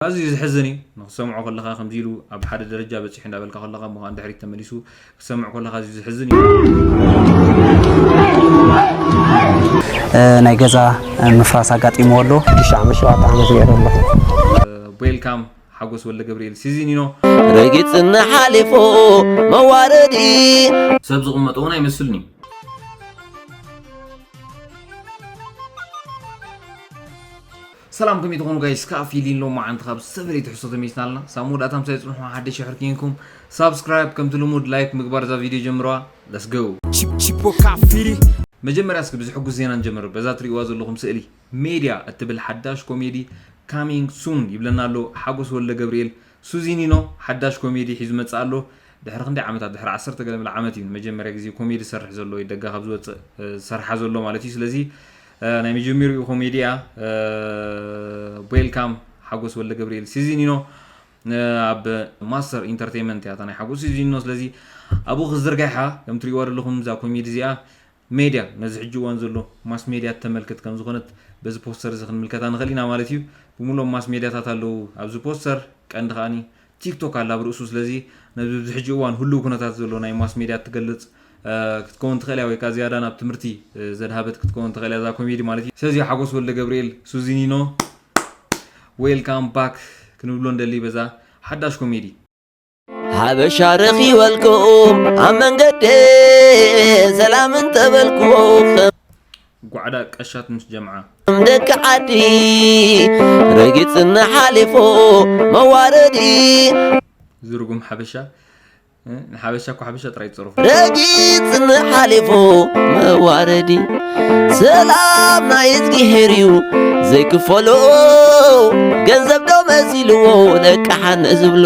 ኣዝዩ ዘሕዝን እዩ ንክትሰምዖ ከለካ ከምዚ ኢሉ ኣብ ሓደ ደረጃ በጺሑ እንዳበልካ ከለካ እሞ ንድሕሪት ተመሊሱ ክትሰምዕ ከለካ ኣዝዩ ዘሕዝን እዩ ናይ ገዛ ምፍራስ ኣጋጢምዎ ኣሎ ሽሻዕ ሸውዓተ ዓመት ገይረ ኣለኹ ቦይልካም ሓጎስ ወልደ ገብርኤል ሲዚኒኖ ረጊፅና ሓሊፉ መዋረዲ ሰብ ዝቕመጦ እውን ኣይመስልን እዩ ሰላም ከመይ ትኾኑ ጋይስ ከኣ ፊሊን ሎማዓንቲ ካብ ዝተፈላለየ ትሕዝቶ ተመሊስና ኣለና ሳብ መወዳእታ ምሳይ ጽንሑ ሓደሽ ይሕር ኪንኩም ሳብስክራይብ ከምቲ ልሙድ ላይክ ምግባር እዛ ቪድዮ ጀምረዋ ለስ ጎው ቺፖካ ፊሊ መጀመርያ እስኪ ብዝሕጉስ ዜና ንጀምር በዛ ትርእይዋ ዘለኹም ስእሊ ሜድያ እትብል ሓዳሽ ኮሜዲ ካሚንግ ሱን ይብለና ኣሎ ሓጎስ ወልደገብርኤል ሱዚኒኖ ሓዳሽ ኮሜዲ ሒዙ መጽእ ኣሎ ድሕሪ ክንደይ ዓመታት ድሕሪ ዓሰርተ ገለ ምል ዓመት እዩ ንመጀመርያ ግዜ ኮሜዲ ዝሰርሕ ዘሎ ወይ ደጋ ካብ ዝወጽእ ዝሰርሓ ዘሎ ማለት እዩ ስለዚ ናይ መጀመሪኡ ኮሜዲ እያ ዌልካም ሓጎስ ወልደገብርኤል ሲዚኒኖ ኣብ ማስተር ኢንተርቴንመንት እያ እታ ናይ ሓጎስ ሲዚኒኖ ስለዚ ኣብኡ ክዝርጋሓ ከም ትሪእዋ ዘለኹም እዛ ኮሜዲ እዚኣ ሜድያ ነዚ ሕጂ እዋን ዘሎ ማስ ሜድያ እተመልክት ከም ዝኾነት በዚ ፖስተር እዚ ክንምልከታ ንኽእል ኢና ማለት እዩ ብምሉኦም ማስ ሜድያታት ኣለዉ ኣብዚ ፖስተር ቀንዲ ከዓኒ ቲክቶክ ኣላ ኣብ ርእሱ ስለዚ ነዚ ኣብዚ ሕጂ እዋን ህሉው ኩነታት ዘሎ ናይ ማስ ሜድያ እትገልጽ ክትከውን ትኽእል እያ ወይ ከኣ ዝያዳ ናብ ትምህርቲ ዘድሃበት ክትከውን ትኽእል እያ እዛ ኮሜዲ ማለት እዩ ስለዚ ሓጎስ ወልደገብርኤል ሱዚኒኖ ዌልካም ባክ ክንብሎ ንደሊ በዛ ሓዳሽ ኮሜዲ ሓበሻ ረኺበልኩም ኣብ መንገዲ ሰላም እንተበልኩ ጓዕዳ ቀሻት ምስ ጀምዓ። ከም ደቂ ዓዲ ረጊጽና ሓሊፉ መዋረዲ ዝርጉም ሓበሻ እ፣ ንሓበሻ እኮ ሓበሻ ጥራይ ይጸርፉ ረጊጽና ሓሊፉ መዋረዲ ሰላም ናይ እዝጊሄር እዩ ዘይክፈሎ ገንዘብ ዶ መሲልዎ ለቃሓን ዝብሎ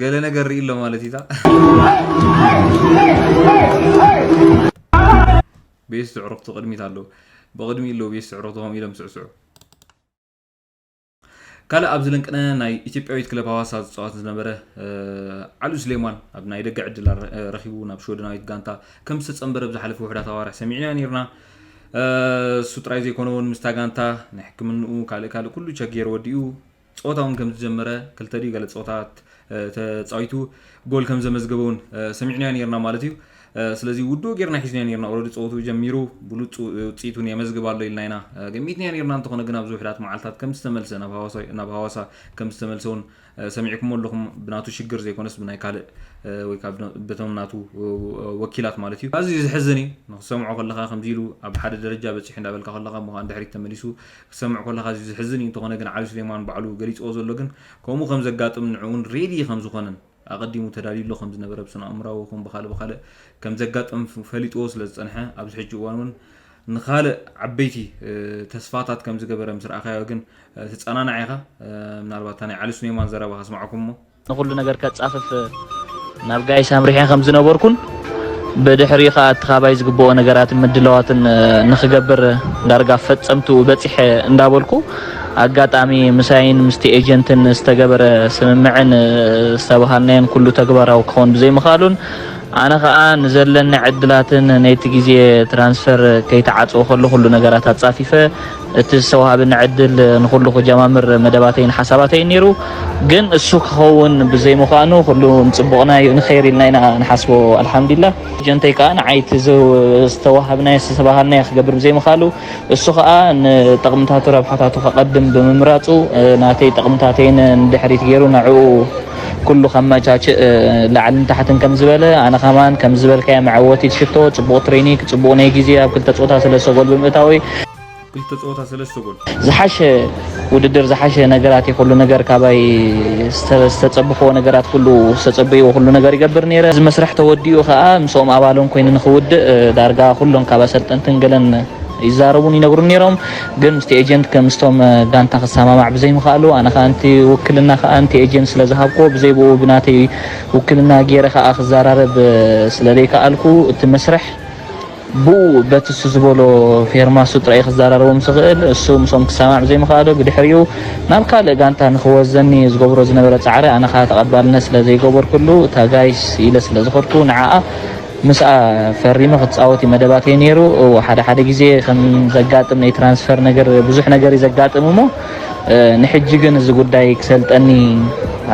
ገለ ነገር ርኢ ኣሎ ማለት እዩታ ቤት ዝዕሩኽቲ ቅድሚት ኣለዉ ብቕድሚ ኣለዉ ቤት ዝዕሩኽቲ ከምኡ ኢሎም ስዕስዑ ካልእ ኣብዚ ለንቅነ ናይ ኢትዮጵያዊት ክለብ ሃዋሳ ዝፀዋት ዝነበረ ዓሉ ስሌማን ኣብ ናይ ደገ ዕድል ረኪቡ ናብ ሽወደናዊት ጋንታ ከም ዝተፀምበረ ብዝሓለፈ ውሕዳት ኣዋርሕ ሰሚዕና ነርና እሱ ጥራይ ዘይኮነ እውን ምስታ ጋንታ ናይ ሕክምንኡ ካልእ ካልእ ኩሉ ቸጌር ወዲኡ ጸወታ እውን ከም ዝጀመረ፣ ክልተ ድዩ ገለ ጸወታታት ተጻዊቱ ጎል ከም ዘመዝገበ እውን ሰሚዕናዮ ኔርና ማለት እዩ። ስለዚ ውዱእ ጌርና ሒዝናዮ ኔርና ኦረዲ ጸወትኡ ጀሚሩ ብሉጽ ውጽኢት እውን የመዝግብ ኣሎ ኢልና ኢና ገሚትናዮ ኔርና እንተኾነ ግን ኣብዚ ውሕዳት መዓልታት ከም ዝተመልሰ ናብ ሃዋሳ ከም ዝተመልሰ እውን ሰሚዕኩሞ ኣለኹም ብናቱ ሽግር ዘይኮነስ ብናይ ካልእ ወይ ካብ በቶም ናቱ ወኪላት ማለት እዩ። ኣዝዩ ዘሕዝን እዩ ንክትሰምዖ ከለኻ ከምዚ ኢሉ ኣብ ሓደ ደረጃ በጺሑ እንዳበልካ ከለኻ እሞ ከኣ ንድሕሪት ተመሊሱ ክትሰምዕ ኮለኻ ኣዝዩ ዘሕዝን እዩ እንተኾነ ግን ዓሊ ሱሌማን ባዕሉ ገሊጽዎ ዘሎ ግን ከምኡ ከም ዘጋጥም ንዕኡን ሬዲ ከም ዝኾነን ኣቐዲሙ ተዳልዩሉ ከም ዝነበረ ብስነኣእምራዊ ይኹን ብኻልእ ብኻልእ ከም ዘጋጥም ፈሊጥዎ ስለ ዝጸንሐ ኣብዚ ሕጂ እዋን እውን ንኻልእ ዓበይቲ ተስፋታት ከም ዝገበረ ምስ ረኣኻዮ ግን ትጸናናዕ ኢኻ ምናልባት እታ ናይ ዓሊ ሱሌማን ዘረባ ከስማዓኩም እሞ ንኹሉ ነገር ከጻፍፍ ናብ ጋይስ ኣምሪሐ ከም ዝነበርኩን ብድሕሪኡ ከኣ እቲ ካባይ ዝግበኦ ነገራትን ምድላዋትን ንኽገብር ዳርጋ ኣብ ፈጸምትኡ በጺሐ እንዳበልኩ ኣጋጣሚ ምሳይን ምስቲ ኤጀንትን ዝተገበረ ስምምዕን ዝተበሃልናዮን ኩሉ ተግባራዊ ክኸውን ብዘይምኽኣሉን ኣነ ከኣ ንዘለኒ ዕድላትን ነቲ ግዜ ትራንስፈር ከይተዓጽወ ከሎ ኩሉ ነገራት ኣጻፊፈ እቲ ዝተዋሃበኒ ዕድል ንኹሉ ክጀማምር መደባተይን ሓሳባተይን ነይሩ፣ ግን እሱ ክኸውን ብዘይምዃኑ ኩሉ ንጽቡቕና ዩ ንኸይር ኢልና ኢና ንሓስቦ ኣልሓምዲላህ። ጀንተይ ከኣ ንዓይ እቲ ዝተዋሃብናዮ ዝተባሃልናዮ ክገብር ብዘይምኻሉ እሱ ከኣ ንጠቕምታቱ ረብሓታቱ ከቐድም ብምምራጹ ናተይ ጠቕምታተይን ንድሕሪት ገይሩ ንዕኡ ኩሉ ከመቻችእ ላዕልን ታሕትን ከም ዝበለ ኣነ ከማን ከም ዝበልካዮ መዐወቲት ሽቶ ጽቡቕ ትሬኒክ ጽቡቕ ናይ ግዜ ኣብ ክልተ ጾታ ሰለስተ ጎል ብምእታወይ ክልተ ጸወታ ሰለስተ ጎል ዝሓሸ ውድድር ዝሓሸ ነገራት እዩ ኩሉ ነገር ካባይ ዝተጸብኽዎ ነገራት ኩሉ ዝተጸበይዎ ኩሉ ነገር ይገብር ነይረ እዚ መስርሕ ተወዲኡ ከኣ ምስኦም ኣባሎም ኮይኑ ንክውድእ ዳርጋ ኩሎም ካብ ኣሰልጠንትን ገለን ይዛረቡን ይነግሩን ነይሮም ግን ምስቲ ኤጀንት ከም ምስቶም ጋንታ ክሰማማዕ ብዘይምኽኣሉ ኣነ ከኣ ንቲ ውክልና ከኣ ንቲ ኤጀንት ስለ ዝሃብክዎ ብዘይ ብኡ ብናተይ ውክልና ጌረ ከኣ ክዘራረብ ስለ ዘይከኣልኩ እቲ መስርሕ ብኡ በቲ እሱ ዝበሎ ፌርማ እሱ ጥራይ ክዘራረቦ ምስ ዝኽእል እሱ ምስኦም ክሰማማዕ ብዘይምኽኣሉ ብድሕሪኡ ናብ ካልእ ጋንታ ንክወስደኒ ዝገብሮ ዝነበረ ጻዕሪ ኣነ ከኣ ተቐባልነት ስለ ዘይገበርኩሉ እታ ጋይስ ኢለ ስለ ዝኸድኩ ንዓኣ ምስኣ ፈሪመ ክጻወት እዩ መደባት እየ ነይሩ። እዎ ሓደ ሓደ ግዜ ከም ዘጋጥም ናይ ትራንስፈር ነገር ብዙሕ ነገር እዩ ዘጋጥም እሞ ንሕጂ ግን እዚ ጉዳይ ክሰልጠኒ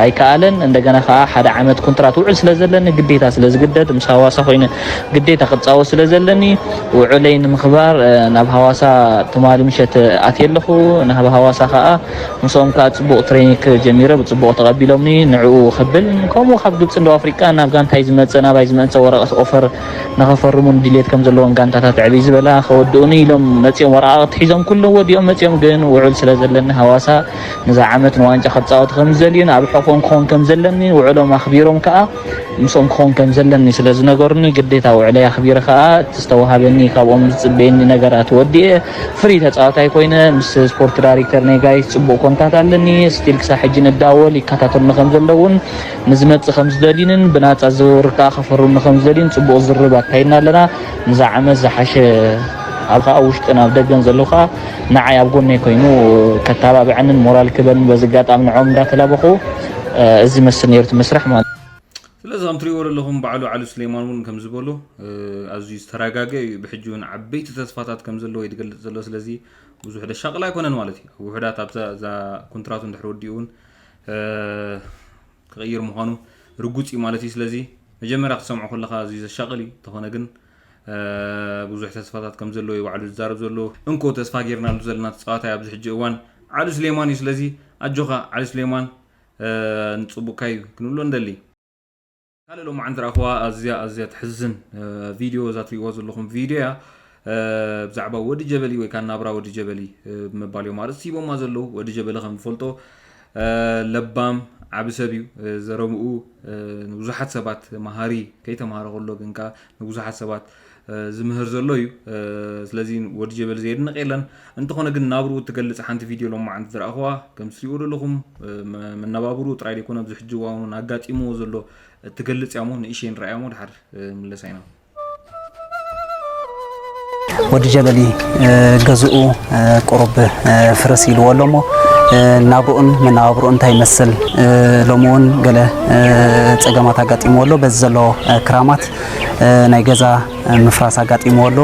ኣይከኣለን። እንደገና ከኣ ሓደ ዓመት ኩንትራት ውዕል ስለ ዘለኒ ግዴታ ስለ ዝግደድ ምስ ሃዋሳ ኮይነ ግዴታ ክጻወት ስለ ዘለኒ ውዕለይ ንምኽባር ናብ ሃዋሳ ትማሊ ምሸት ኣትየ ኣለኹ። ናብ ሃዋሳ ከኣ ምስኦም ከኣ ጽቡቕ ትረይኒክ ጀሚረ ብጽቡቕ ተቐቢሎምኒ ንዕኡ ክብል ከምኡ ካብ ግብጺን ደቡብ ኣፍሪቃን ናብ ጋንታይ ዝመጽእን ኣባይ ዝመእንጸ ወረቐት ኦፈር ንኽፈርሙን ድልየት ከም ዘለወን ጋንታታት ዕብይ ዝበላ ከወድኡኒ ኢሎም መጺኦም ወረቓቕቲ ሒዞም ኩሎም ወዲኦም መጺኦም ግን ውዑል ስለ ዘለኒ ሃዋሳ ንዛ ዓመት ንዋንጫ ክጻወት ከም ዝደልዩን ኣብ ሕቖኦም ክኾን ከም ዘለኒ ውዑሎም ኣኽቢሮም ከኣ ምስኦም ክኾን ከም ዘለኒ ስለ ዝነገሩኒ ግዴታ ውዕለይ ኣኽቢረ ከኣ እቲ ዝተዋሃበኒ ካብኦም ዝጽበየኒ ነገራት ወዲኤ ፍሪ ተጻዋታይ ኮይነ ምስ ስፖርት ዳይሬክተር ናይ ጋይስ ጽቡቕ ኮንታት ኣለኒ ስቲል ክሳብ ሕጂ ንዳወል ይከታተሉኒ ከም ዘለውን ንዝመጽእ ከም ዝደልዩንን ብናጻ ዝውውር ከኣ ከፈርሙኒ ከም ዝደልዩን ጽቡቕ ዝርርብ ኣካይድና ኣለና ንዛ ዓመት ዝሓሸ ኣብ ከኣ ውሽጥን ኣብ ደገን ዘለዉ ከኣ ንዓይ ኣብ ጎነይ ኮይኑ ከታባብዐንን ሞራል ክበንን በዚ ኣጋጣሚ ንዕኦም እንዳተላበኹ እዚ ዝመስል ነይሩ እቲ መስርሕ ማለት ስለዚ ከም ትሪእዎ ዘለኹም ባዕሉ ዓሉ ስሌማን እውን ከም ዝበሎ ኣዝዩ ዝተረጋገ እዩ ብሕጂ እውን ዓበይቲ ተስፋታት ከም ዘለዎ እዩ ዝገልፅ ዘሎ ስለዚ ብዙሕ ደሻቅላ ኣይኮነን ማለት እዩ ውሕዳት ኣብዛ እዛ ኮንትራቱ እንድሕር ወዲኡ እውን ክቕይር ምዃኑ ርጉፅ እዩ ማለት እዩ ስለዚ መጀመርያ ክትሰምዖ ከለካ ኣዝዩ ዘሻቅል እዩ እንተኾነ ግን ብዙሕ ተስፋታት ከም ዘለዎ እዩ ባዕሉ ዝዛረብ ዘሎ እንኮ ተስፋ ጌርናሉ ዘለና ተጻዋታይ ኣብዚ ሕጂ እዋን ዓሊ ስሌማን እዩ ስለዚ ኣጆኻ ዓሊ ስሌማን ንጽቡቅካ እዩ ክንብሎ እንደሊ ካልእ ሎማዓንቲ ረኣኽዋ ኣዝያ ኣዝያ ተሕዝን ቪድዮ እዛ ትሪእዋ ዘለኹም ቪድዮ እያ ብዛዕባ ወዲ ጀበሊ ወይ ከዓ ናብራ ወዲ ጀበሊ ብምባል እዮም ኣርእስቲ ሂቦማ ዘለዉ ወዲ ጀበሊ ከም ንፈልጦ ለባም ዓቢ ሰብ እዩ ዘረብኡ ንብዙሓት ሰባት መሃሪ ከይተማሃረ ከሎ ግን ከኣ ንብዙሓት ሰባት ዝምህር ዘሎ እዩ ስለዚ ወዲ ጀበል ዘየድንቕ የለን እንተኾነ ግን ናብርኡ እትገልጽ ሓንቲ ቪድዮ ሎማዓንቲ ዝረኣኹዋ ከም ትሪእዎ ዘለኹም መነባብርኡ ጥራይ ዘይኮነ ኣብዚ ሕጂ እዋን ኣጋጢምዎ ዘሎ እትገልጽ እያ እሞ ንእሽተይ ንርኣያ እሞ ድሓር ምለሳ ኢና ወዲ ጀበሊ ገዝኡ ቁሩብ ፍርስ ኢልዎ ኣሎ እሞ ናብርኡን መነባብርኡን እንታይ ይመስል ሎሚ እውን ገለ ፀገማት ኣጋጢምዎ ኣሎ በዚ ዘሎ ክራማት ናይ ገዛ ምፍራስ ኣጋጢምዎ ኣሎ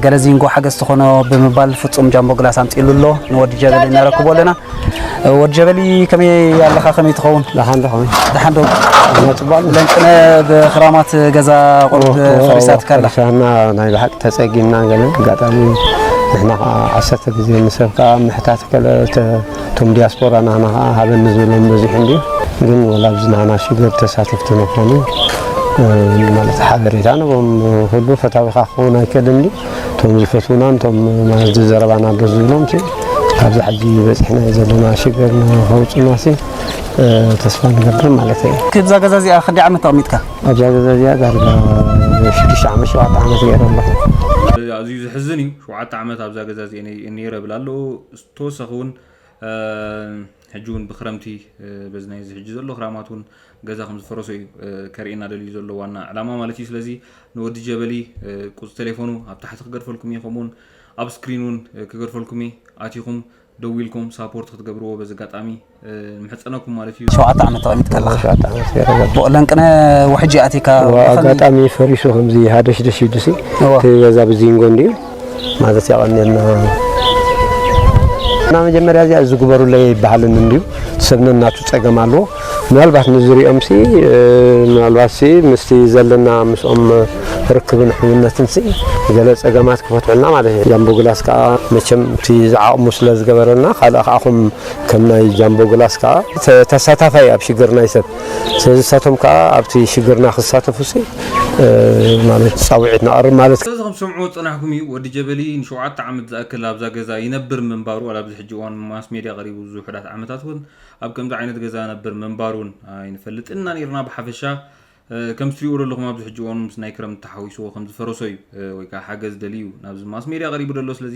ገለ ዚንጎ ሓገዝ ዝኾኖ ብምባል ፍፁም ጃምቦ ግላስ ኣምፂሉ ኣሎ ንወዲ ጀበሊ ነረክቦ ኣለና ወድ ጀበሊ ከመይ ኣለኻ ከመይ ትኸውን ደሓን ዶ ከመይ ደሓን ዶ ጽቡቅ ለንቅነ ብክራማት ገዛ ቁርብ ፈሪሳትካ ኣላ ፈሪሳና ናይ ብሓቂ ተጸጊምና ገለ ኣጋጣሚ ንሕና ከዓ ዓሰርተ ግዜ ንሰብ ከዓ ምሕታት ከለ እቶም ዲያስፖራ ናህና ከዓ ሃበኒ ዝብሎም በዚሑ እንድዩ ግን ወላ ኣብዚ ናህና ሽግር ተሳተፍቲ ንኾኑ ማለት ሓበሬታ ንቦም ኩሉ ፈታዊኻ ክኸውን ኣይከልን እቶም ዝፈትዉናን እቶም ማለት ዘረባና ደስ ዝብሎም ሲ ካብዚ ሕጂ በፂሕናዮ ዘለና ሽግር ንኸውፁና ሲ ተስፋ ንገብር ማለት እዩ። ክብዛ ገዛ እዚኣ ክንደይ ዓመት ተቐሚጥካ? ኣብዛ ገዛ እዚኣ ዳርጋ ሽዱሽተ ዓመት ሸውዓተ ዓመት ገይረ ኣለኹ። ኣዝዩ ዘሕዝን እዩ ሸውዓተ ዓመት ኣብዛ ገዛ እዚኣ እየ ነይረ እብል ኣለኹ። ተወሳኺ እውን ሕጂ ውን ብክረምቲ በዚ ናይዚ ሕጂ ዘሎ ክራማት ውን ገዛ ከም ዝፈረሶ እዩ ከርእየና ደልዩ ዘሎ ዋና ዕላማ ማለት እዩ ስለዚ ንወዲ ጀበሊ ቁጽ ቴሌፎኑ ኣብ ታሕቲ ክገድፈልኩም እዩ ከምኡውን ኣብ ስክሪን ውን ክገድፈልኩም እዩ ኣቲኹም ደዊልኩም ሳፖርት ክትገብርዎ በዚ ኣጋጣሚ ንምሕጸነኩም ማለት እዩ ሸውዓተ ዓመት ተቐሚጥ ከለኻ ብኡ ለንቅነ ውሕጂ ኣቲካ ኣጋጣሚ ፈሪሱ ከምዚ ሃደሽደሽ ኢሉሲ እቲ ገዛ ብዚንጎ እንድዩ ማለት ያቀኔልና እና መጀመሪያ እዚኣ እዚ ግበሩለይ ኣይበሃልን እንድዩ ሰብ ነናቱ ፀገም ኣለዎ ምናልባት ንዝሪኦም ሲ ምናልባት ሲ ምስቲ ዘለና ምስኦም ርክብን ሕውነትን ሲ ገለ ፀገማት ክፈትሑልና ማለት እዩ ጃምቦ ግላስ ከዓ መቸም እቲ ዝዓቕሙ ስለ ዝገበረና ካልእ ከዓኹም ከም ናይ ጃምቦ ግላስ ከዓ ተሳታፋይ ኣብ ሽግር ናይ ሰብ ስለዚ ንሳቶም ከኣ ኣብቲ ሽግርና ክሳተፉሲ ማለት ጻውዒት ነቐርብ ማለት እዩ። ስለዚ ከም ትሰምዕዎ ዝጸናሕኩም እዩ። ወዲ ጀበሊ ንሸውዓተ ዓመት ዝኣክል ኣብዛ ገዛ ይነብር ምንባሩ ዋላ ኣብዚ ሕጂ እዋን ኣብ ማስ ሜድያ ቀሪቡ እዚ ውሑዳት ዓመታት እውን ኣብ ከምዚ ዓይነት ገዛ ይነብር ምንባሩ እውን ኣይንፈልጥን ኢና ኔርና ብሓፈሻ ከምቲ ትሪእዎ ዘለኹም ኣብዚ ሕጂ እዋን ምስ ናይ ክረምቲ ተሓዊስዎ ከም ዝፈረሶ እዩ ወይ ከዓ ሓገዝ ደልዩ ናብዚ ማስ ሜድያ ቀሪቡ ዘሎ ስለዚ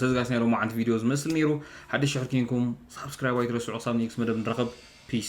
ሰዝጋስ ናይ ሎማዓንቲ ቪድዮ ዝመስል ነይሩ ሓድሽ ሽሕር ኪንኩም ሳብስክራይብ ኣይትረስዑ ክሳብ ኔክስ መደብ ንራኸብ ፒስ